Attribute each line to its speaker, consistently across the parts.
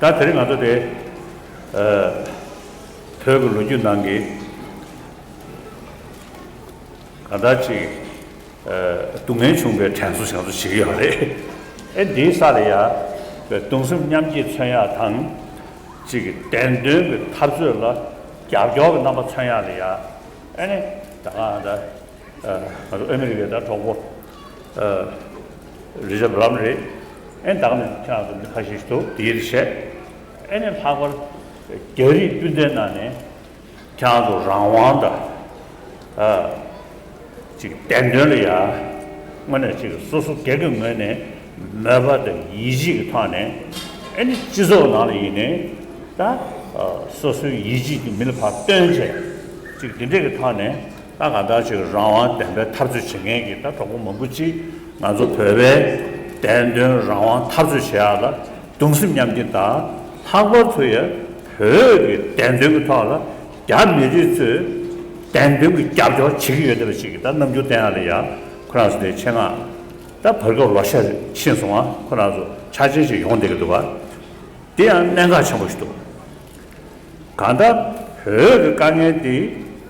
Speaker 1: ད་དེར་ང་ཚོ་དེ། བོད་ཀྱི་ལོ་རྒྱུས་ནང་གི། གང་ལྟར་ཅིག། སྡུག་བསྔལ་བྱུང་པའི་དྲན་གསོ་ཞིག་ང་ཚོ་བྱེད་ཀྱི་ཡོད་རེད། ཨེ་འདིའི་ས་ལ་ཡང། གདུང་སེམས་མཉམ་སྐྱེད་མཚོན་ཡག་དང། ཅིག་བདེན་དོན་གྱི་འཐབ་རྩོད་ལ། རྒྱབ་སྐྱོར་གྱི་རྣམ་པ་མཚོན་ཡག་ལ་ཡང། ཨེ་ནི། ད་གང་ལྟར། ང་ཚོ་ཨ་མི་རི་ཀའི་དང་གྲོགས་པོ། རི་རབ་ལམ་རེད། ཨེ་བདག་ནི་ཁྱེད་རང་ཚོ་མི་ཁ་ཤས་ཤིག་འདུག་དེའི་ཡིད་ཆེས། ཨེ་ནི་ལྷག་པར་རྒྱ་རིགས་སྤུན་ཟླའི་ནང་ནས་ཁྱེད་རང་ཚོ་རང་དབང་དང། གཅིག་བདེན་དོན་ལ་ཡ། དངོས་གནས་གཅིག་སོ་སོ་སྒེར་གྱི་ངོས་ནས་མོས་པ་དང་ཡིད་ཆེས་ཀྱི་ཐོག་ནས། ཨེ་ནི་སྤྱི་ཚོགས་ནང་ལ་ཡིན་ནའི། སོ་སོའི་ཡིད་ཆེས་ཀྱི་མི་ལ་བར་སྟོན་བྱས། གཅིག་དེ་འདྲས་ཀྱི་ཐོག་ནས། ད་ག་ལྟར་བྱས་ཀྱི་རང་དབང་བདེན་པའི་འཐབ་རྩོད་བྱེད་མཁན་གྱི་ད་གྲོགས་པོ་མང་པོ་ཅིག་ང་ཚོ་བོད་པའི་བདེན་དོན་རང་དབང་འཐབ་རྩོད་བྱེད་ཡག་ལ་གདུང་སེམས་མཉམ་སྐྱེ་དང་ལྷག་པར་དུ་ཡ་བོད་ཀྱི་བདེན་དོན་གྱི་ཐོག་ལ་རྒྱ་མི་རིགས་ཚོས་བདེན་དོན་གྱི་རྒྱབ་སྐྱོར་བྱེད་ཀྱི་ཡོད་བསྡད་པ་ཞིག་གི་ད་རྣམ་འགྱུར་བསྟན་ཡག་ལ་ཡ་ཁོ་རང་ཚོ་དེ་ཆེད་མངགས་ད་བར་སྐབས་ལོ་ཤས་ཕྱིན་སོང་ང་ཁོ་རང་ཚོ་ཆ་ཆེན་ཞིག་ཡོང་བསྡད་ཀྱི་འདུག་བ་འདི་ཡང་གནད་འགག་ཆེན་པོ་ཞིག་འདུག། གང་ལྟར་བོད་ཀྱི་དཀའ་ངལ་འདི་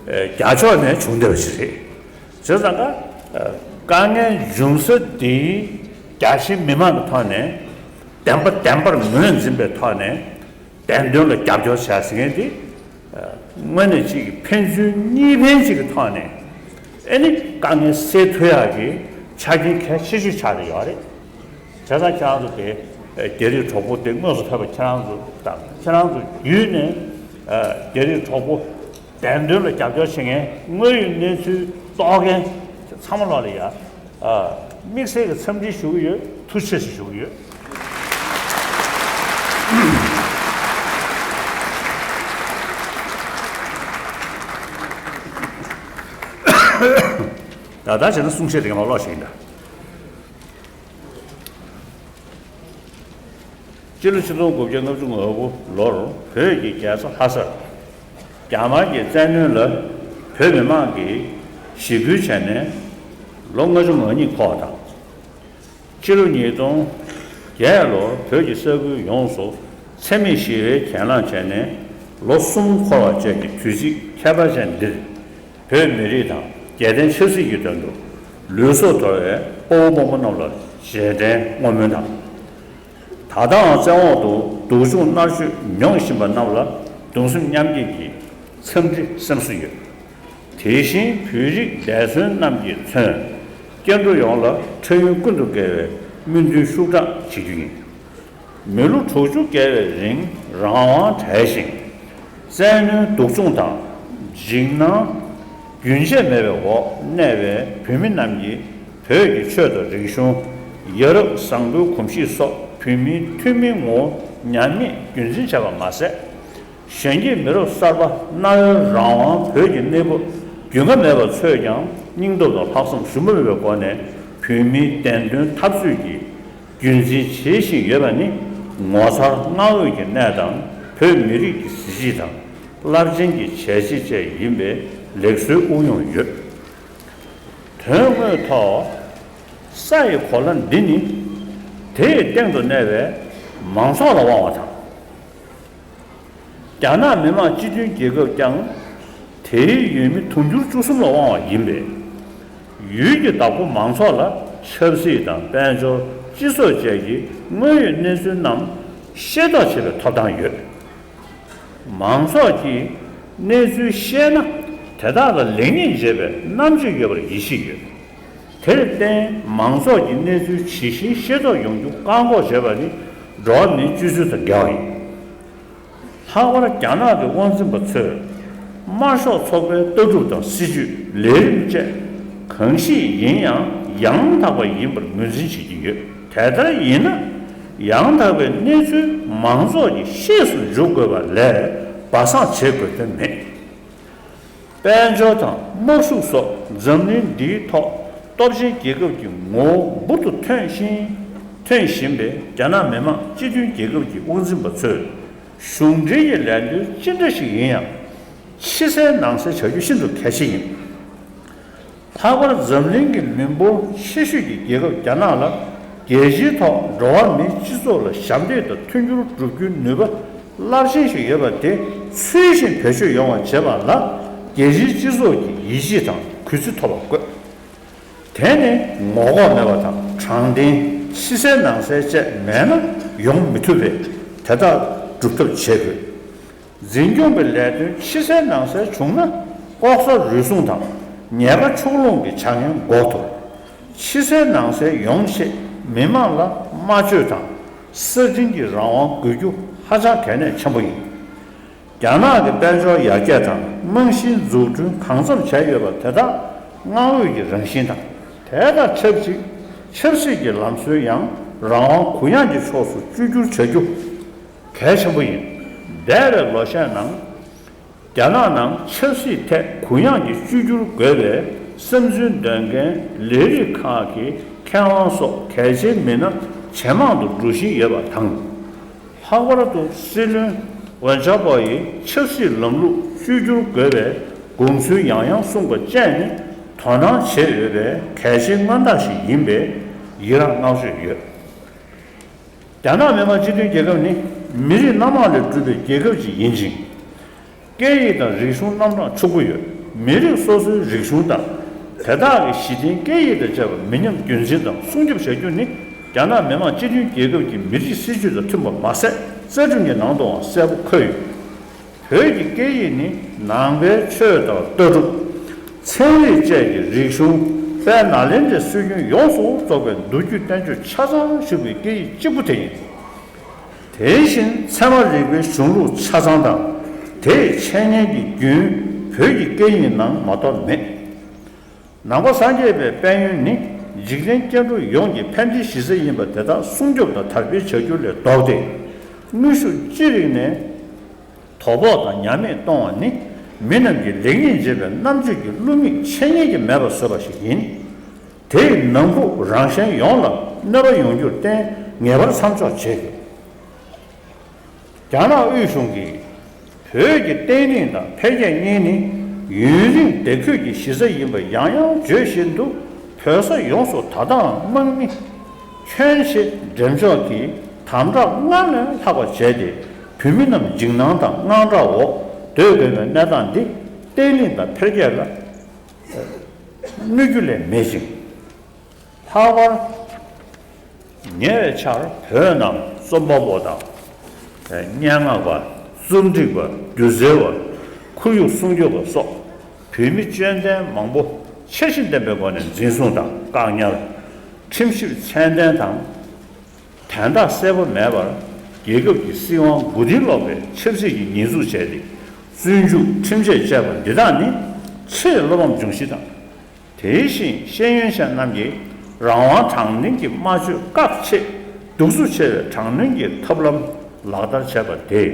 Speaker 1: རྒྱ་ཕྱོགས་ནས་བྱུང་བསྡད་པ་ཞིག་རེད། བྱས་ཙང་ཀ་དཀའ་ངལ་འབྱུང་ས་འདི་རྒྱ་ཆེའི་མི་མང་གི་ཐོག་ནས་བདེན་པ་བདེན་པར་ངོས་འཛིན་པའི་ཐོག་ནས་བདེན་དོན་ལ་རྒྱབ་སྐྱོར་བྱས་ཟིན་མཁན་འདི་དངོས་གནས་གཅིག་གི་ཕན་ཚུན་གཉིས་ཕན་གཅིག་གི་ཐོག་ནས་ཨེ་ནི་དཀའ་ངལ་སེལ་ཐུབ་ཡག་གི་ཆ་རྐྱེན་གལ་ཆེ་ཤོས་ཆགས་ཀྱི་ཡོད་རེད། དེ་ལྟར་ཁྱེད་རང་ཚོ་དེ་རྒྱ་རིགས་གྲོགས་པོ་དེ་དངོས་སུ་ཕེབས་པ་ཁྱེད་རང་ཚོ་དང་ཁྱེད་རང་ཚོ་བརྒྱུད་ནས་རྒྱ་རིགས་གྲོགས་པོ་བདེན་དོན་ལ་རྒྱབ་སྐྱོར་བྱེད་མཁན་དངོས་ཡོད་གནས་ཚུལ་རྟོགས་མཁན་དེ་ཚང་མ་ལ་ཡང་དམིགས་བསལ་གྱི་འཚམས་འདྲི་ཞུ་གི་ཡོད་ཐུགས་ཆེ་ཞེས་ཞུ་གི་ཡོད། ད་ལྟ་བྱས་ན་གསུང་བཤད་དེ་ག་མ་ལོག་བྱེད་ཀྱིན་འདྲ། སྤྱི་ལོ་ཆིག་སྟོང་དགུ་བརྒྱ་ལྔ་བཅུ་ང་དགུ་ལོར་བོད་ཀྱི་རྒྱལ་ས་ལྷ་སར་རྒྱ་དམར་གྱི་བཙན་གནོན་ལ་བོད་མི་མང་གིས་ཞི་རྒོལ་བྱས་ནས་ལོ་ལྔ་བཅུ་ང་གཉིས་ཐོག་དང། སྤྱི་ལོ་ཉིས་སྟོང་བརྒྱད་ལོར་བོད་ཀྱི་ས་ཁུལ་ཡོངས་སུ་འཚེ་མེད་ཞི་བའི་གྱེན་ལངས་བྱས་ནས་ལོ་གསུམ་འཁོར་བ་བཅས་ཀྱི་དུས་ཚིགས་ཁྱད་པར་ཅན་འདིར། བོད་མི་རིགས་དང་རྒྱལ་བསྟན་ཆབ་སྲིད་ཀྱི་དོན་དུ་ལུས་སྲོག་དོར་བའི་སྤོ་བོ་སྤོ་མོ་རྣམས་ལ་རྗེས་དྲན་བསྔོ་སྨོན་དང། ད་ལྟའང་བཙན་འོག་ཏུ་སྡུག་སྦྱོང་མནར་གཅོད་མྱོང་བཞིན་པ་རྣམས་ལ་གདུང་སེམས་མཉམ་སྐྱེད་ཀྱི་འཚམས་འདྲི་སེམས་སུ་ཡོད། དེ་བཞིན་བོད་རིགས་འདས་གསོན་རྣམས་ཀྱི་མཚོན། སྐྱེ་འགྲོ་ཡོངས་ལ་འཕྲལ་ཡུན་ཀུན་ཏུ་དགེ་བའི་སྨོན་འདུན་ཤུགས་དྲག་བྱེད་རྒྱུ་ཡིན། མི་ལོ་དྲུག་ཅུ་བརྒལ་བའི་རིང་རང་དབང་བྲལ་ཞིང། བཙན་གནོན་སྡུག་སྦྱོང་དང་འཇིགས་སྣང་རྒྱུན་ཆད་མེད་པའི་འོག་གནས་པའི་བོད་མི་རྣམས་ཀྱིས་བོད་ཀྱི་ཆོས་དང་རིག་གཞུང། ཡ་རབས་བཟང་པོའི་གོམས་གཤིས་སོགས་བོད་མིའི་ཐུན་མིན་ངོ་བོ་ཉམས་མེད་རྒྱུན་འཛིན་བྱས་པ་མ་ཟད། གཞོན་སྐྱེས་མི་རབས་གསར་པ་གནའ་བོའི་རང་དབང་བོད་ཀྱི་གནས་བབ་རྒྱུས་མངའ་མེད་པ་ཚོས་ཀྱང་སྙིང་སྟོབས་དང་ལྷག་བསམ་ཞུམ་མེད་པའི་སྒོ་ནས་བོད་མིའི་བདེན་དོན་འཐབ་རྩོད་ཀྱི་རྒྱུན་འཛིན་བྱེད་བཞིན་ཡོད་པ་ནི་ངོ་མཚར་གནའ་བོའི་གྱི་གནས་དང་བོད་མི་རིགས་ཀྱི་གཟི་བརྗིད་དང་རླབས་ཆེན་གྱི་བྱས་རྗེས་བཅས་ཡིན་པས་ལེགས་གསོལ་དབུགས་དབྱུང་ཡོད། དོན་དངོས་ཐོག་ས་ཡི་གོ་ལ་འདི་ནི་དེའི་སྟེང་དུ་གནས་པའི་མང་ཚོགས་ལ་དབང་བ་དང། རྒྱ་ནག་མི་དམངས་སྤྱི་མཐུན་རྒྱལ་ཁབ་ཀྱང་དེའི་ཡུལ་མི་དུང་ཕྱུར་བཅུ་གསུམ་ལ་དབང་བ་ཡིན་པས། ཡུལ་གྱི་བདག་པོ་མང་ཚོགས་ལ་ཆབ་སྲིད་དང་དཔལ་འབྱོར་སྤྱི་ཚོགས་བཅས་ཀྱི་དངོས་ཡོད་གནས་ཚུལ་རྣམས་ཤེས་རྟོགས་བྱེད་པའི་ཐོབ་ཐང་ཡོད། མང་ཚོགས་ཀྱིས་གནས་ཚུལ་ཤེས་ན་དེ་དག་ལ་ལེགས་ཉེས་འབྱེད་པའི་རྣམ་དཔྱོད་ཡོད་པར་ཡིད་ཆེས་ཡོད། དེར་བརྟེན་མང་ཚོགས་ཀྱི་གནས་ཚུལ་ཇི་བཞིན་ཤེས་རྟོགས་ཡོང་རྒྱུ་བཀག་འགོག་བྱེད་པ་ནི་འགྲོ་བ་མིའི་སྤྱོད་ཚུལ་དང་འགལ་བ་ཡིན། ལྷག་པར་རྒྱ་ནག་གི་དབང་འཛིན་པ་ཚོས་དམར་ཤོག་ཚོགས་པའི་ལྟ་གྲུབ་དང་སྲིད་ཇུས་ལས་རིམ་བཅས་གང་ཞིག་ཡིན་ཡང་ཡང་དག་པ་ཡིན་པར་ངོས་འཛིན་བྱེད་ཀྱི་ཡོད། དེ་ལྟར་ཡིན་ན་ཡང་དག་པའི་གནས་ཚུལ་མང་ཚོགས་ཀྱི་ཤེས་སུ་འཇུག་དགོས་པ་ལས་སྦ་གསང་བྱེད་དགོས་དོན་མེད། དཔལ་འབྱོར་དང་དམག་ཤུགས་སོགས་འཛམ་གླིང་འདིའི་ཐོག་སྟོབས་ཆེན་རྒྱལ་ཁབ་ཀྱི་ངོ་བོ་འབུར་དུ་ཐོན་ཞིང་ཐོན་བཞིན་པའི་རྒྱ་ནག་མི་དམངས་སྤྱི་མཐུན་རྒྱལ་ཁབ་ཀྱི་དབུ་འཛིན་པ་ཚོས་གཞུང་འབྲེལ་གྱི་ལས་དོན་ཅི་འདྲ་ཞིག་ཡིན་ཡང་ཕྱི་གསལ་ནང་གསལ་བྱ་རྒྱུ་ཤིན་ཏུ་གལ་ཆེ་ཡིན། ལྷག་པར་འཛམ་གླིང་གི་མི་འབོར་ཆེ་ཤོས་ཀྱི་རྒྱལ་ཁབ་རྒྱ་ནག་ལ་རྒྱལ་སྤྱིའི་ཐོག་འགྲོ་བ་མིའི་སྤྱི་ཚོགས་ལ་ཞབས་འདེགས་དང་མཐུན་འགྱུར་བསྒྲུབ་རྒྱུའི་ནུས་པ་རླབས་ཆེན་ཞིག་ཡོད་པ་དེ་ཚུལ་བཞིན་བེད་སྤྱོད་ཡོང་བ་བྱེད་པ་ལ་རྒྱལ་སྤྱིའི་སྤྱི་ཚོགས་ཀྱི་ཡིད་ཆེས་དང་གུས་བརྩི་ཐོབ་པ་དགོས། དེ་ནི་ངོ་ལྐོག་མེད་པ་དང་དྲང་བདེན་ཕྱི་གསལ་ནང་གསལ་བཅས་མེད་ན་ཡོང་མི་ཐུབ་པས་དེ་དག་སྒྲུབ་ཐབས་བྱེད་དགོས། འཛིན་སྐྱོང་གི་ལས་དོན་ཕྱི་གསལ་ནང་གསལ་བྱུང་ན་ལྐོག་ཟ་རུལ་སུངས་དང་ཉེས་པ་ཕྱོགས་ལྷུང་གི་བྱ་ངན་འགོག་ཐུབ། ཕྱི་གསལ་ནང་གསལ་ཡོང་ཆེད་མི་དམངས་ལ་སྨྲ་བརྗོད་དང་གསར་བསྒྲིགས་ཀྱི་རང་དབང་དགོས་རྒྱུ་ཧ་ཅང་གལ་གནད་ཆེན་པོ་ཡིན། རྒྱ་ནག་གི་དཔལ་འབྱོར་ཡར་རྒྱས་དང་རྨང་གཞིའི་འཛུགས་སྐྲུན་གང་འཚམ་བྱས་ཡོད་པ་དེ་དག་མངའ་འོས་ཀྱི་རང་བཞིན་དང། དེ་དང་ཆབས་ཅིག་ཆབ་སྲིད་ཀྱི་ལམ་སྲོལ་ཡང་རང་དབང་གུ་ཡངས་ཀྱི་ཕྱོགས་སུ་བཅོས་བསྒྱུར་བྱ་རྒྱུ། གལ་ཆེན་པོ་ཡིན། འདས་པའི་ལོ་ཤས་ནང། རྒྱ་ནག་ནང་ཆབ་སྲིད་ཐད་གུ་ཡངས་ཀྱི་བཅོས་བསྒྱུར་དགོས་པའི་བསམ་ཚུལ་འདོན་མཁན་ལས་རིགས་ཁག་གི་མཁས་དབང་སོགས་གལ་ཆེའི་མི་སྣ་ཇེ་མང་དུ་འགྲོ་བཞིན་ཡོད་པ་དང། ལྷག་པར་དུ་སྲིད་བློན་ཝན་ཅཱ་པོ་ཡིས་ཆབ་སྲིད་ལམ་ལུགས་བཅོས་བསྒྱུར་དགོས་པའི་དགོངས་ཚུལ་ཡང་ཡང་གསུངས་པ་བཅས་ནི་དོ་སྣང་བྱེད་འོས་པའི་གལ་ཆེའི་མངའ་བདག་ཞིག་ཡིན་པས་ཡི་རངས་བསྔགས་བརྗོད་ཡོད། རྒྱ་ནག་མི་དམངས་སྤྱི་མཐུན་རྒྱལ་ཁབ་ནི་མི་རིགས་སྣ་མང་ལས་གྲུབ་པའི་རྒྱལ་ཁབ་ཅིག་ཡིན་ཅིང། སྐད་ཡིག་དང་རིག་གཞུང་རྣམ་གྲངས་ཕྱུག་པོ་ཡོད། མི་རིགས་སོ་སོའི་རིག་གཞུང་དང། དེ་དག་གི་གཞི་རྟེན་སྐད་ཡིག་དང་བཅས་པ་མི་ཉམས་རྒྱུན་འཛིན་དང་སྲུང་སྐྱོབ་བྱ་རྒྱུ་ནི་རྒྱ་ནག་མི་དམངས་སྤྱི་མཐུན་རྒྱལ་ཁབ་ཀྱི་མི་རིགས་སྲིད་ཇུས་དང་མཐུན་པ་མ་ཟད་རྩ་ཁྲིམས་ཀྱི་ནང་དུའང་གསལ་པོ་འཁོད་ཡོད། བོད་ཀྱི་སྐད་ཡིག་ནི་ནང་པའི་ཆོས་དང་ལྟ་གྲུབ། ཚན་རིག་བཅས་ཀྱི་རིག་གཞུང་དཔལ་ནཱ་ལེནྡྲའི་སྲོལ་རྒྱུན་ཡོངས་སུ་རྫོགས་པའི་མདོ་རྒྱུད་བསྟན་བཅོས་ཆ་ཚང་བཞུགས་པའི་སྐད་ཡིག་གཅིག་པུ་དེ་ཡིན། དེ་བཞིན་ཚད་མ་རིག་པའི་གཞུང་ལུགས་ཆ་ཚང་དང་དེའི་འཆད་ཉན་གྱི་རྒྱུན་བོད་ཀྱི་སྐད་ཡིག་ནང་མ་གཏོགས་མེད། ནང་པ་སངས་རྒྱས་པའི་དཔལ་ཡོན་ནི་འཇིག་རྟེན་སྐྱེ་འགྲོ་ཡོངས་ཀྱི་ཕན་བདེའི་གཞི་རྩ་ཡིན་པ་དེ་དག་སྲུང་སྐྱོབ་དང་དར་སྤེལ་བྱ་རྒྱུ་ལས་ལྡོག་སྟེ། ནུས་ཤུགས་ཅི་རིགས་ནས་དོ་ཕོག་དང་ཉམས་མེད་གཏོང་བ་ནི་མི་རྣམས་ཀྱིས་ལེགས་ཉེས་འབྱེད་པའི་རྣམ་དཔྱོད་ཀྱི་བསླུ་མེད་འཆད་ཉན་གྱི་མེད་པ་བཟོས་པ་ཞིག་ཡིན། དེས་ནང་ཁུལ་རང་གཞན་ཡོངས་ལ་གནོད་པ་ཡོང་རྒྱུར་བརྟེན་ངེས་པར་མཚམས་འཇོག་བྱེད་དགོས། རྒྱ་ནག་དབུས་གཞུང་གིས་བོད་ཀྱི་བརྟན་ལྷིང་དང་འཕེལ་རྒྱས་གཉིས་ནི་ཡུན་རིང་བདེ་འཁོད་ཀྱི་གཞི་རྩ་ཡིན་པ་ཡང་ཡང་བརྗོད་བཞིན་དུ་བོད་ས་ཡོངས་སུ་ད་ལྟའང་དམག་མི་ཁྱོན་ཆེ་འགྲེམས་འཇོག་གིས་དམ་དྲག་སྔར་ལས་ལྷག་པ་བྱས་ཏེ་བོད་མི་རྣམས་འཇིགས་སྣང་དང་དངངས་སྐྲག་འོག་སྡོད་དགོས་པའི་གནས་སྟངས་འདི་བརྟན་ལྷིང་དང་འཕེལ་རྒྱས་ལ་གནོད་རྒྱུ་ལས་མེད་ཅིང། ལྷག་པར་ཉེ་བའི་ཆར་བོད་ནང་རྩོམ་པ་པོ་དང། སྙན་ངག་པ། རྩོམ་སྒྲིག་པ། སྒྱུ་རྩལ་བ། ཁོར་ཡུག་སྲུང་སྐྱོབ་པ་སོགས་བོད་མི་དཔྱོད་ལྡན་མང་པོ་ཆ་གཞི་ལྡན་པའི་སྒོ་ནས་འཛིན་བཟུང་དང་བཀག་ཉར། ཁྲིམས་ཞིབ་ཚད་ལྡན་དང། དན་རྟགས་གསལ་པོ་མེད་པར་རྒྱལ་ཁབ་ཀྱི་སྲིད་དབང་མགོ་རྟིང་སློག་པའི་ཆབ་སྲིད་ཀྱི་ཉེས་འཛུགས་བྱས་ཏེ་བཙོན་འཇུག་ཁྲིམས་ཆད་བཅད་པ་འདི་དག་ནི་ཆེས་བློ་ཕམ་འབྱུང་གཞི་དང། དེ་བཞིན་ཤེས་ཡོན་ཅན་རྣམས་ཀྱི་རང་དབང་དྲང་བདེན་གྱི་སྨྲ་བརྗོད་བཀག་ཆེད་གདུག་རྩུབ་ཆེ་བའི་དྲག་གནོན་གྱི་ཐབས་ལམ་ལག་བསྟར་བྱས་པ་དེས་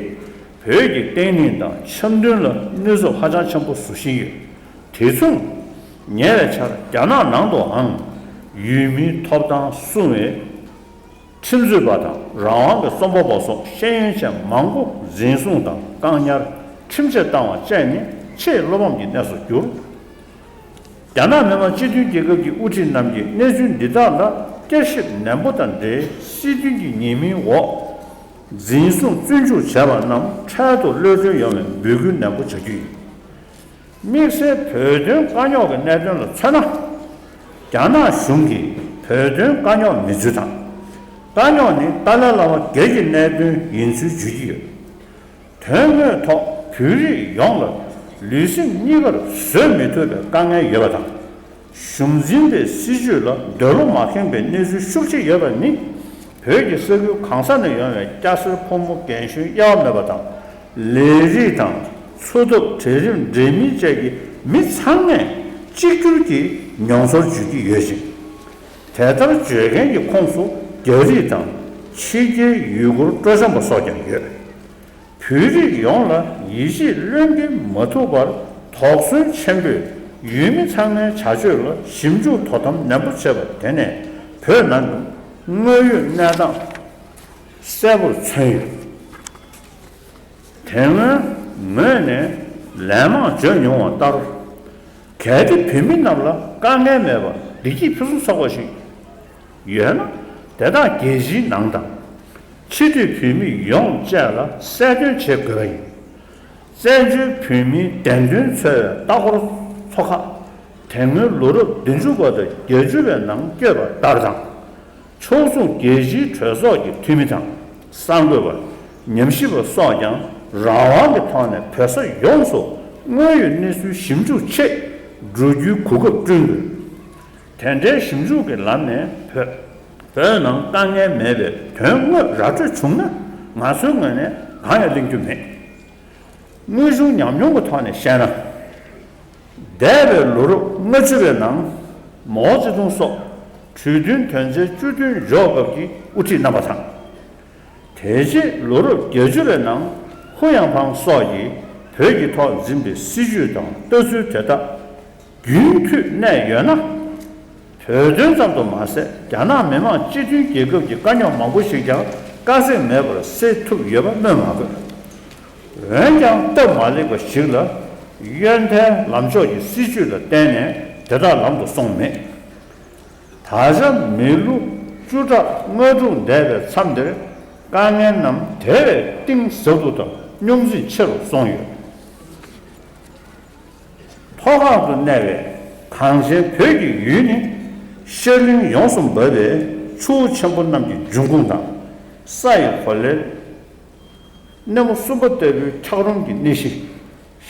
Speaker 1: བོད་ཀྱི་བརྟན་ལྷིང་དང་འཆམ་མཐུན་ལ་གནོད་འཚེ་ཧ་ཅང་ཆེན་པོ་བཟོ་བཞིན་ཡོད། དེ་མཚུངས། ཉེ་བའི་ཆར་རྒྱ་ནག་ནང་དུའང་ཡུལ་མིའི་ཐོབ་ཐང་སྲུང་བའི་ཁྲིམས་རྩོད་པ་དང་རང་དབང་གི་རྩོམ་པ་པོ་སོགས་ཤེས་ཡོན་ཅན་མང་པོ་འཛིན་བཟུང་དང་བཀག་ཉར་ཁྲིམས་ཆད་བཏང་བ་བཅས་ནི་ཆེས་བློ་ཕམ་གྱི་གནས་སུ་གྱུར། རྒྱ་ནག་མི་དམངས་སྤྱི་མཐུན་རྒྱལ་ཁབ་ཀྱི་དབུ་ཁྲིད་རྣམས་ཀྱིས་གནས་ཚུལ་འདི་དག་ལ་བསྐྱར་ཞིབ་ནན་པོ་དང་འབྲེལ་སྲིད་དོན་གྱི་ཉེས་མིང་འོག་འཛིན་བཟུང་བཙོན་འཇུག་བྱས་པ་རྣམས་འཕྲལ་དུ་གློད་བཀྲོལ་ཡོང་བའི་འབོད་སྐུལ་ནན་པོ་བྱ་རྒྱུ་ཡིན། དམིགས་བསལ་བོད་དོན་དཀའ་རྙོག་གི་གནད་དོན་ལ་མཚོན་ན། རྒྱ་ནག་གཞུང་གིས་བོད་དོན་དཀའ་རྙོག་མེད་ཚུལ་དང། དཀའ་རྙོག་ནི་ཏཱ་ལའི་བླ་མ་སྒེར་གྱི་གནད་དོན་ཡིན་ཚུལ་བརྗོད་ཀྱི་ཡོད། དོན་དངོས་ཐོག་བོད་རིགས་ཡོངས་ལ་ལུས་སེམས་གཉིས་ཀར་བཟོད་མི་ཐུབ་པའི་དཀའ་ངལ་ཡོད་པ་དང། གཞུང་འཛིན་པའི་སྲིད་ཇུས་ལ་འདོད་བློ་མ་ཁེངས་པའི་གནས་ཚུལ་ཤུགས་ཆེ་ཡོད་པ་ནི། བོད་ཀྱི་ས་ཁུལ་གང་ས་ནས་ཡོང་བའི་སྐྱ་སེར་ཕོ་མོ་རྒན་གཞོན་དབྱེ་བ་མེད་པ་དང། ལས་རིགས་དང། འཚོ་ཐབས་གྲལ་རིམ་འབྲེལ་མིན་བཅས་ཀྱི་མི་ཚང་མས་གཅིག་གྱུར་གྱིས་མྱོང་ཚོར་བརྗོད་ཀྱི་ཡོད་ཅིང། དེ་ལྟར་བརྗོད་མཁན་གྱི་ཁོངས་སུ་རྒྱ་རིགས་དང་ཕྱི་རྒྱལ་ཡུལ་སྐོར་སྤྲོ་འཆམ་པ་སོགས་ཀྱང་ཡོད། བོད་རིགས་ཡོངས་ལ་ཡིད་ཆེས་ལོན་གྱི་མ་ཐུབ་པར་དོགས་ཟོན་ཆེན་པོས་ཡུལ་མི་ཚང་མའི་བྱ་སྤྱོད་ལ་ཞིབ་འཇུག་དོ་དམ་ནན་པོ་བྱེད་པ་དེ་ནས་བོད་ནང་གི་དངོས་ཡོད་གནས་སྟངས་གསལ་པོར་མཚོན་ཡོད། དེ་སྔོན་ངོས་ནས་ལན་མང་བརྗོད་མྱོང་བ་ལྟར། གལ་ཏེ་བོད་མི་རྣམས་ལ་དཀའ་ངལ་མེད་པར་བདེ་སྐྱིད་ཕུན་སུམ་ཚོགས་པ་ཞིག་ཡོད་ན། དེ་དག་རྒྱལ་སྤྱིའི་ནང་དང། ཕྱི་སྡོད་བོད་མི་ཡོངས་བཅས་ལ་གསལ་སྟོན་བྱེད་དགོས་པ་ཡིན། བཙན་བྱོལ་བོད་མིའི་བདེན་དོན་འཚོལ་བའི་ལྟ་སྐོར་ཚོགས་ཁག་དེ་སྔོན་ལོ་རབས་བདུན་ཅུ་པ་དང་བརྒྱད་ཅུ་པའི་ནང་བསྐྱོད་པ་ལྟར་དང། ཕྱོགས་མཚུངས་རྒྱལ་སྤྱིའི་གྲོས་ཚོགས་ཀྱི་འཐུས་མི་དང་གསར་འགོད་པ། ཉམས་ཞིབ་པ་སོགས་ཀྱང་རང་དབང་གི་ཐོག་ནས་བོད་ས་ཡོངས་སུ་དངོས་ཡོད་གནས་ཚུལ་ཞིབ་འཇུག་ཆེད་འགྲོ་རྒྱུའི་གོ་སྐབས་བསྐྲུན་དགོས། དེ་འདྲའི་ཞིབ་འཇུག་གི་ལམ་ནས་བོད། བོད་ནང་དཀའ་ངལ་མེད་པའི་དོན་དངོས་ར་སྤྲོད་བྱུང་ན་ང་ཚོའི་ངོས་ནས་གང་ཡང་གླེང་རྒྱུ་མེད། དངོས་བྱུང་ཉམས་མྱོང་གི་ཐོག་ནས་བཤད་ན། འདས་པའི་ལོ་རབས་ལྔ་བཅུ་བའི་ནང། མའོ་ཙེ་ཏུང་སོགས་གྲོས་མཐུན་དོན་ཚན་བཅུ་བདུན་འཇོག་སྐབས་ཀྱི་དབུ་ཁྲིད་རྣམ་པ་དང། དེ་རྗེས་ལོ་རབས་བརྒྱད་ཅུ་བའི་ནང་ཧུ་ཡང་ཕང་སོགས་ཀྱིས་བོད་ཀྱི་ཐོག་འཛིན་པའི་སྲིད་ཇུས་དང་ལྟ་ཚུལ་དེ་དག་རྒྱུན་མཐུད་གནས་ཡོད་ན། བོད་དོན་ཙམ་དུ་མ་ཟད་རྒྱ་ནག་མི་དམངས་སྤྱི་མཐུན་རྒྱལ་ཁབ་ཀྱི་དཀའ་རྙོག་མང་པོ་ཞིག་ཀྱང་དཀའ་ཚེགས་མེད་པར་སེལ་ཐུབ་ཡོད་པ་སྨོས་མ་དགོས། འོན་ཀྱང་སྟབས་མ་ལེགས་པ་ཞིག་ལ། གཡོན་མཐའི་ལམ་ཕྱོགས་ཀྱི་སྲིད་ཇུས་ལ་བརྟེན་ནས་དེ་དག་ལམ་དུ་སོང་མེད། ད་ཆ་མི་ལོ་བཅུ་ཕྲག་ལྔ་དྲུག་འདས་པའི་མཚམས་འདིར་དཀའ་ངལ་རྣམས་དེ་བས་གཏིང་ཟབ་པོ་དང་རྙོག་འཛིང་ཆེ་རུ་སོང་ཡོད། མཐོ་སྒང་དུ་གནས་པའི་གངས་ཅན་བོད་ཀྱི་ཡུལ་ནི་ཤར་གླིང་ཡོངས་སུ་འབབ་པའི་ཆུ་བོ་ཆེན་པོ་རྣམས་ཀྱི་འབྱུང་ཁུངས་དང། ས་ཡི་གོ་ལའི། གནས་མོ་གསུམ་པ་ལྟ་བུའི་འཁྱགས་རོམ་གྱི་གནས་གཞི།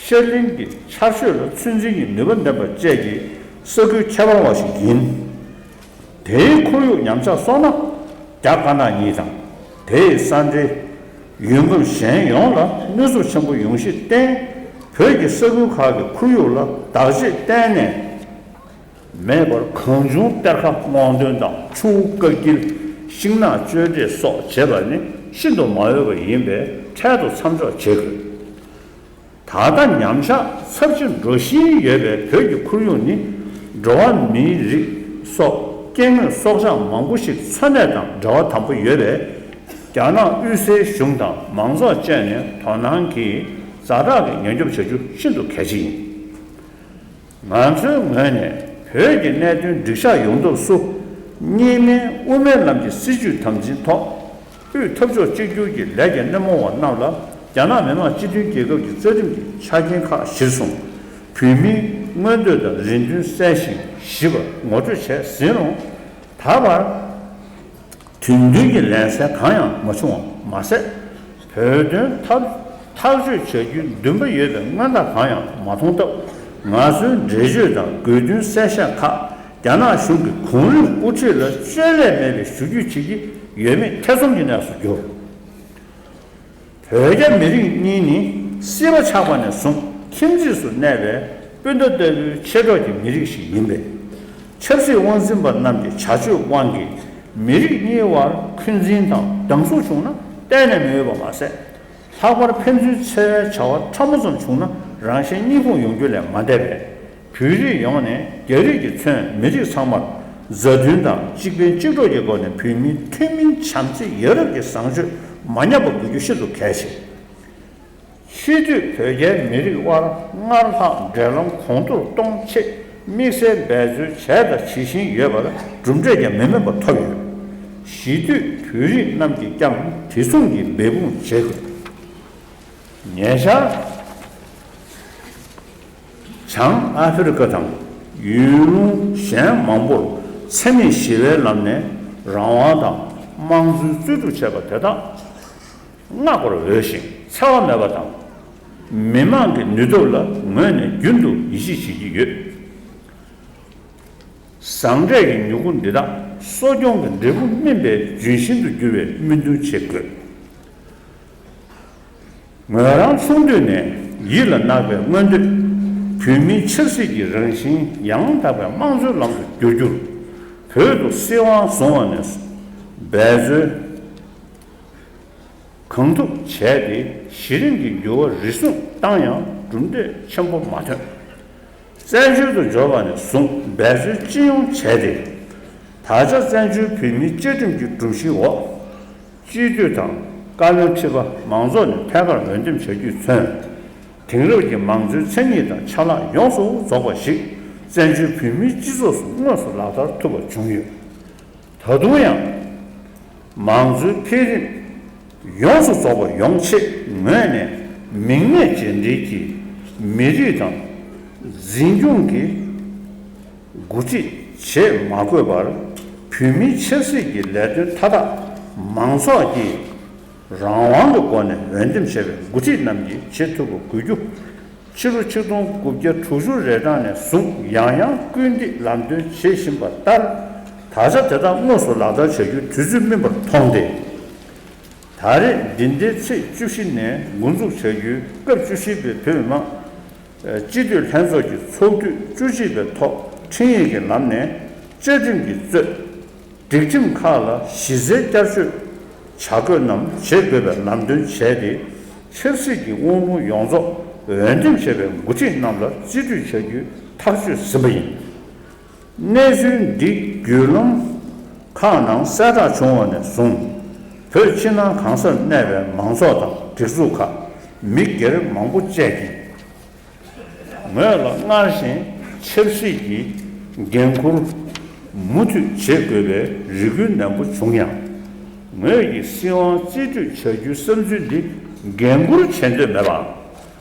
Speaker 1: ཤར་གླིང་གི་ཆར་ཞོད་ལ་ཚོད་འཛིན་གྱི་ནུས་པ་ལྡན་པ་བཅས་ཀྱི་ས་ཁུལ་ཁྱད་པར་བ་ཞིག་ཡིན། དེའི་ཁོར་ཡུག་ཉམས་ཆག་སོང་ན་རྒྱ་དཀར་ནག་གཉིས་དང་དེའི་ས་འབྲེལ་ཡུལ་འབབ་གཞན་ཡོངས་ལ་གནོད་འཚུབ་ཆེན་པོ་ཡོང་གཞི་བརྟེན་བོད་ཀྱི་ས་ཁུལ་ཁག་གི་ཁོར་ཡུག་ལ་བདག་གཅེས་གཏན་ནས་མེད་པར་གང་བྱུང་གཏེར་ཁ་དབང་འདོན་དང་ཆུ་བོ་བཀའ་བརྒྱུད་ཤིང་ནགས་གཅོད་འབྲེག་སོགས་བྱེད་པ་ནི་ཤིན་ཏུ་མ་འོས་པ་ཡིན་པས་འཕྲལ་དུ་མཚམས་འཇོག་བྱེད་དགོས། ད་ལྟ་ཉམས་ཆག་ཚབས་ཆེ་འགྲོ་བཞིན་ཡོད་པའི་བོད་ཀྱི་ཁོར་ཡུག་ནི་འགྲོ་བ་མིའི་རིགས་སོགས་སྐྱེ་དངོས་སྲོག་ཆགས་མང་པོ་ཞིག་འཚོ་གནས་དང་འབྲེལ་བ་དམ་པོ་ཡོད་པས། རྒྱ་ནག་དབུས་སའི་གཞུང་དང་མང་ཚོགས་བཅས་ནས་དོ་སྣང་གིས་རྫ་བྲག་གི་ཉེན་སྐྱོབ་བྱ་རྒྱུ་ཤིན་ཏུ་གལ་ཆེ་ཡིན། ང་ཚོའི་ངོས་ནས་བོད་ཀྱི་གནད་དོན་སྒྲིག་ཆགས་ཡོང་ཐབས་སུ། གཉིས་སྨན་དབུ་མའི་ལམ་གྱི་སྲིད་བྱུས་དམ་འཛིན་ཐོག་དབུས་འཐབ་ཕྱོགས་གཅིག་གྱུར་གྱི་ལས་ཀྱི་སྣེ་མོ་བ་རྣམས་ལ་རྒྱ་ནག་མི་དམངས་སྤྱི་མཐུན་རྒྱལ་ཁབ་ཀྱི་རྩ་ཁྲིམས་ཀྱི་ཆ་རྐྱེན་ཁག་གཞིར་བཟུང། བོད་མིའི་མངོན་འདོད་དང་རེ་འདུན་གསལ་ཞིང་ཞིབ་པར་ངོ་སྤྲོད་བྱས་ཟིན་རུང། ད་བར། དུས་མཐུན་གྱི་ལན་ཚྭ་གང་ཡང་མ་བྱུང་བ་མ་ཟད། བོད་དོན་ཐག་ཐག་གཅོད་བྱ་རྒྱུའི་འདུན་པ་ཡོད་པའི་མངའ་བདག་གང་ཡང་མ་མཐོང་སྟབས། ང་ཚོའི་འགྲེལ་བརྗོད་དང་དགོས་འདུན་གསལ་བཤད་ཁག་རྒྱ་ནག་གཞུང་གི་གོང་རིམ་དབུ་ཁྲིད་ལ་བཅོས་བསླད་མེད་པའི་ཞུ་རྒྱུས་བྱེད་ཀྱི་ཡོད་མེད་ཐེ་ཚོམ་གྱི་གནས་སུ་གྱུར། བོད་རྒྱ་མི་རིགས་གཉིས་ནི་སྲིད་པ་ཆགས་པ་ནས་བཟུང་ཁྱིམ་མཚེས་སུ་གནས་པའི་སྤུན་ཟླ་ལྟ་བུའི་མཆེད་གྲོགས་ཀྱི་མི་རིགས་ཤིག་ཡིན་པས། ཆབ་སྲིད་དབང་འཛིན་པ་རྣམས་ཀྱི་བྱ་སྤྱོད་དབང་གིས་མི་རིགས་གཉིས་བར་འཁོན་འཛིན་དང་སྡང་ཟུག་བྱུང་ན་གཏན་ནས་མི་འོས་པ་མ་ཟད། ལྷག་པར་ཕན་ཚུན་འཚེ་བའི་བྱ་བ་ཕྲ་མོ་ཙམ་བྱུང་ན་རང་གཞན་གཉིད་ཁུག་ཡོང་རྒྱུ་ལས་མ་འདས་པས། བོད་རིགས་ཡོངས་ནས་རྒྱ་རིགས་ཀྱི་མཚོན་མི་རིགས་ཚང་མར་མཛའ་མཐུན་དང་གཅིག་ཕན་གཅིག་གྲོགས་ཀྱི་སྒོ་ནས་བོད་མིའི་ཐུན་མིན་བྱམས་བརྩེ་ཡ་རབས་ཀྱི་བཟང་སྤྱོད་མ་ཉམས་པ་དགོས་རྒྱུ་ཤིན་ཏུ་གལ་ཆེ། ཕྱིས་དུས་བོད་རྒྱའི་མི་རིགས་དབར་སྔར་ལྷག་འབྲེལ་ལམ་གོང་མཐོར་གཏོང་ཆེད་དམིགས་བསལ་འབད་རྩོལ་བྱས་དང་བྱེད་བཞིན་ཡོད་པར་གྲུབ་འབྲས་ཀྱང་མི་དམན་པ་ཐོབ་ཡོད། གཞིས་དུས་བོད་རིགས་རྣམས་ཀྱིས་ཀྱང་དེ་མཚུངས་ཀྱི་འབད་འབུངས་བྱེད་དགོས་ངེས། བྱང་ཨ་ཧྥེ་རི་ཁ་དང་ཡུལ་ལུང་གཞན་མང་པོར་འཚེ་མེད་ཞི་བའི་ལམ་ནས་རང་དབང་དང་དམངས་གཙོའི་རྩོད་སྒྲུབ་བྱས་པ་དེ་དག་བསྔགས་པར་འོས་ཤིང་འཚེ་བ་མེད་པ་དང། མི་དམངས་ཀྱི་ནུས་སྟོབས་ལ་ངོས་ནས་རྒྱུན་དུ་ཡིད་ཆེས་བྱེད་ཀྱི་ཡོད། ཟང་འབྲས་ཀྱི་མྱུ་གུ་འདི་དག་གསོ་སྐྱོང་གི་འབྲས་བུ་སྨིན་པའི་ལྗོན་ཤིང་དུ་འགྱུར་བའི་སྨོན་འདུན་བྱེད་དགོས། ངོས་རང་ཆུང་དུས་ནས་ཡིད་ལ་བརྣག་པའི་མངོན་འདོད། བོད་མིའི་ཆབ་སྲིད་ཀྱི་རང་བཞིན་ཡང་དག་པའི་དམངས་གཙོའི་ལམ་དུ་བསྒྱུར་རྒྱུར། བོད་དུ་སྲིད་དབང་བཟུང་བ་ནས་བཟུང་འབད་རྩོལ་གང་ཐུབ་བྱས་ཏེ་གཞི་རིམ་གྱི་འགྱུར་བ་རེ་ཟུང་བཏང་ཡང་གྲུབ་འབྲས་ཆེན་པོ་མ་ཐོན། བཙན་བྱོལ་དུ་འབྱོར་བ་ནས་བཟུང་འབད་རྩོལ་ཅི་ཡོང་བྱས་ཏེ། ད་ཆ་བཙན་བྱོལ་བོད་མིའི་བཅའ་ཁྲིམས་ཀྱི་སྒྲོམ་གཞིའི་འོག། སྤྱི་བསྡུས་དང་བཀའ་བློན་ཁྲི་པ་མང་ཚོགས་ནས་ཐད་ཀར་འོས་འདེམས་བྱ་རྒྱུས་མཚོན། དེང་རབས་ཀྱི་མང་གཙོའི་མཚན་ཉིད་དང་ཆ་ལག་ཡོངས་སུ་རྫོགས་པ་ཞིག་བཙན་བྱོལ་བོད་མིའི་སྤྱི་ཚོགས་སུ་དངོས་སུ་ལག་བསྟར་ཐུབ་པ་བྱུང་ཡོད། ད་དུང་ཡང། མང་གཙོའི་འཕེལ་རིམ་ཡོངས་སུ་རྫོགས་པ་ཡོང་ཆེད་ངོས་ནས་མིག་སྔའི་རྗེས་འབྲེལ་གྱི་མི་རིགས་དང། འཛིན་སྐྱོང་གི་དགུ་སྒྲིག་བྱེད་མ་དགོས་པར་བོད་མིའི་ཆབ་སྲིད་ཀྱི་ལས་དོན་མཐའ་དག་མང་ཚོགས་ཀྱིས་རང་དབང་གི་སྒོ་ནས་འོས་འདེམས་བྱས་པའི་མགོ་ཁྲིད་རྣམས་ཀྱིས་བྱེད་ཐུབ་པ་དགོས་རྒྱུ། ཕྱི་ལོ་ཆིག་སྟོང་དགུ་བརྒྱ་དྲུག་ཅུ་རེ་གྲངས་ནས་བཟུང་ཡང་ཡང་སྐུལ་འདེད་ལམ་སྟོན་བྱེད་བཞིན་པ་ལྟར་ད་ཆ་དེ་དག་དངོས་སུ་ལག་བསྟར་བྱ་རྒྱུའི་དུས་ཚོད་སྨིན་པར་མཐོང་སྟེ། ད་རེས་འདི་ཟླའི་ཚེས་བཅུ་བཞི་ནས་མགོ་འཛུགས་བྱ་རྒྱུའི་སྐབས་བཅུ་བཞི་པའི་བོད་མི་མང་སྤྱི་འཐུས་ལྷན་ཚོགས་ཀྱི་ཚོགས་དུས་བཅུ་གཅིག་པའི་ཐོག་འཕྲིན་ཡིག་གི་ལམ་ནས་བཅའ་ཁྲིམས་ཀྱི་གཙོས། སྒྲིག་ཁྲིམས་ཁག་ལ་གཞི་རྩའི་བསྐྱར་བཅོས་བྱ་དགོས་རྣམས་བྱེད་དགོས་པའི་ལམ་སྟོན་བྱས་ཏེ། ཆབ་སྲིད་ཀྱི་དབང་ལུང་ཡོངས་རྫོགས་འོས་འདེམས་བྱས་པའི་འགོ་ཁྲིད་རྣམས་ལ་རྩིས་སྤྲོད་བྱ་རྒྱུའི་ཐག་གཅོད་ཟིན་པ་ཡིན། གནས་ཚུལ་འདི་བརྒྱུད་རློམ་ཁག་ནང་གསལ་བསྒྲགས་བྱུང་བ་ནས་བཟུང། བོད་ཕྱི་ནང་གང་སར་གནས་པའི་མང་ཚོགས་དང་སྒྲིག་འཛུགས་ཁག་མི་སྒེར་མང་པོ་བཅས་ཀྱིས། ངོས་ལ་སྔར་བཞིན་ཆབ་སྲིད་ཀྱི་འགན་འཁུར་མུ་མཐུད་བྱེད་དགོས་པའི་རེ་སྐུལ་ནན་པོ་བྱུང་ཡང། ངོས་ཀྱིས་སྲིད་དབང་རྩིས་སྤྲོད་བྱ་རྒྱུའི་བསམ་ཚུལ་འདི་འགན་འཁུར་བྱེད་འདོད་མེད་པའམ་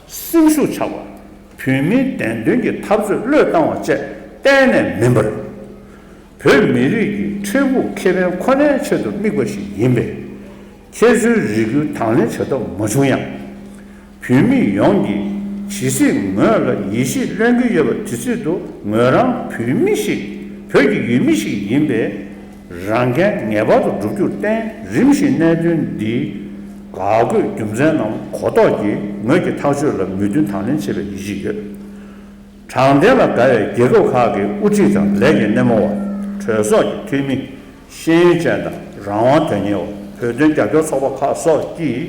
Speaker 1: སེམས་ཤུགས་ཆག་པ། བོད་མིའི་བདེན་དོན་གྱི་འཐབ་རྩོད་བློས་བཏང་བ་བཅས་གཏན་ནས་མིན་པར། བོད་མི་རིགས་ཀྱི་འཕྲལ་ཕུགས་ཁེ་ཕན་ཁོ་ནའི་ཆེད་དུ་དམིགས་པ་ཞིག་ཡིན་པས། ཁྱེད་ཚོའི་རེ་སྐུལ་དང་ལེན་བྱ་ཐབས་མ་བྱུང་ཡང། བོད་མི་ཡོངས་ཀྱིས་ཇི་སྲིད་ངོས་ལ་ཡིད་ཆེས་ལོན་གྱི་ཡོད་པ་དེ་སྲིད་དུ་ངོས་རང་བོད་མི་ཞིག་བོད་ཀྱི་ཡུལ་མི་ཞིག་ཡིན་པས། རང་འགན་ངེས་པར་དུ་བསྒྲུབ་རྒྱུར་བརྟེན་རིམ་བཞིན་གནད་དོན་འདིའི་ག་དགོས་རྒྱུ་མཚན་རྣམས་གོ་རྟོགས་ཀྱིས་ངོས་ཀྱིས་ཐག་གཅོད་ལ་མོས་མཐུན་དང་ལེན་བྱེད་པའི་ཡིད་ཆེས་ཡོད། དྲང་བདེན་ལ་དགའ་བའི་རྒྱལ་ཁབ་ཁག་གི་དབུ་ཁྲིད་དང་ལས་ཀྱི་སྣེ་མོ་བ། གྲོས་ཚོགས་ཀྱི་འཐུས་མི། ཤེས་ཡོན་ཅན་དང་རང་དབང་དོན་གཉེར་བ་བོད་དོན་རྒྱབ་སྐྱོར་ཚོགས་པ་ཁག་སོགས་ཀྱིས་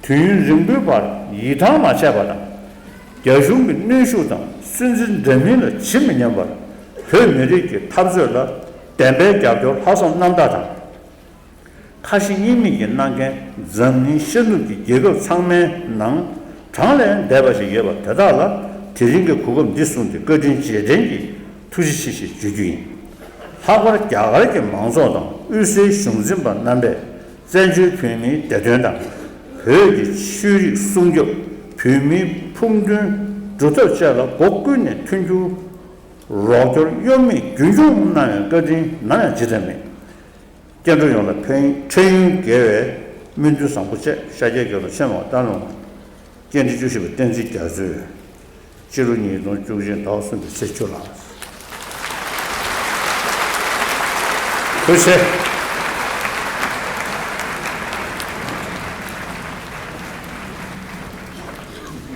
Speaker 1: དུས་ཡུན་རིང་པོའི་བར་ཡིད་ཐང་མ་ཆད་པ་དང། རྒྱ་གཞུང་གི་གནོན་ཤུགས་དང་སུན་གཙེར་འདྲ་མིན་ལ་ཇི་མི་སྙམ་པར་བོད་མི་རིགས་ཀྱི་འཐབ་རྩོད་ལ་བདེན་པའི་རྒྱབ་སྐྱོར་ལྷག་བསམ་རྣམ་དག་དང། ཁ་ཞེ་གཉིས་མེད་ཀྱིས་གནང་མཁན་འཛམ་གླིང་ཤར་ནུབ་ཀྱི་རྒྱལ་ཁབ་ཚང་མའི་ནང་གྲངས་ལས་འདས་པ་ཞིག་ཡོད་པ་དེ་དག་ལ་དེ་རིང་གི་གོ་སྐབས་འདི་བཟུང་སྟེ་བཀའ་དྲིན་རྗེས་དྲན་གྱི་ཐུགས་རྗེ་ཆེ་ཞེས་བརྗོད་རྒྱུ་ཡིན། ལྷག་པར་རྒྱ་གར་གྱི་མང་ཚོགས་དང་དབུས་སའི་གཞུང་འཛིན་པ་རྣམ་པས་བཙན་བྱོལ་བོད་མིའི་བདེ་དོན་དང། བོད་ཀྱི་ཆོས་རིག་སྲུང་སྐྱོབ་བོད་མིའི་ཕུགས་འདུན་སྒྲུབ་ཐབས་བཅས་ལ་སྒོ་ཀུན་ནས་མཐུན་འགྱུར། རོགས་སྐྱོར་གཡོ་མེད་རྒྱུན་འཁྱོངས་གནང་བའི་བཀའ་དྲིན་ནམ་ཡང་ཇི་ལྟར་མེད། སྐྱེ་འགྲོ་ཡོངས་ལ་ཕན་འཕྲིན་ཡོན་དགེ་བའི་སྨོན་འདུན་བཟང་པོ་བཅས་ཤཱཀྱའི་དགེ་སློབ་ཆེན་མོ་སྟག་ལུང་སྐྱེ་འབྲི་བཅུ་བཞི་པ་བསྟན་འཛིན་རྒྱ་མཚོས་སྤྱི་ལོ་ཉིས་སྟོང་བཅུ་གཅིག་ཟླ་བ་གསུམ་པའི་ཚེས་བཅུ་ལ་གྲོལ་བྱས།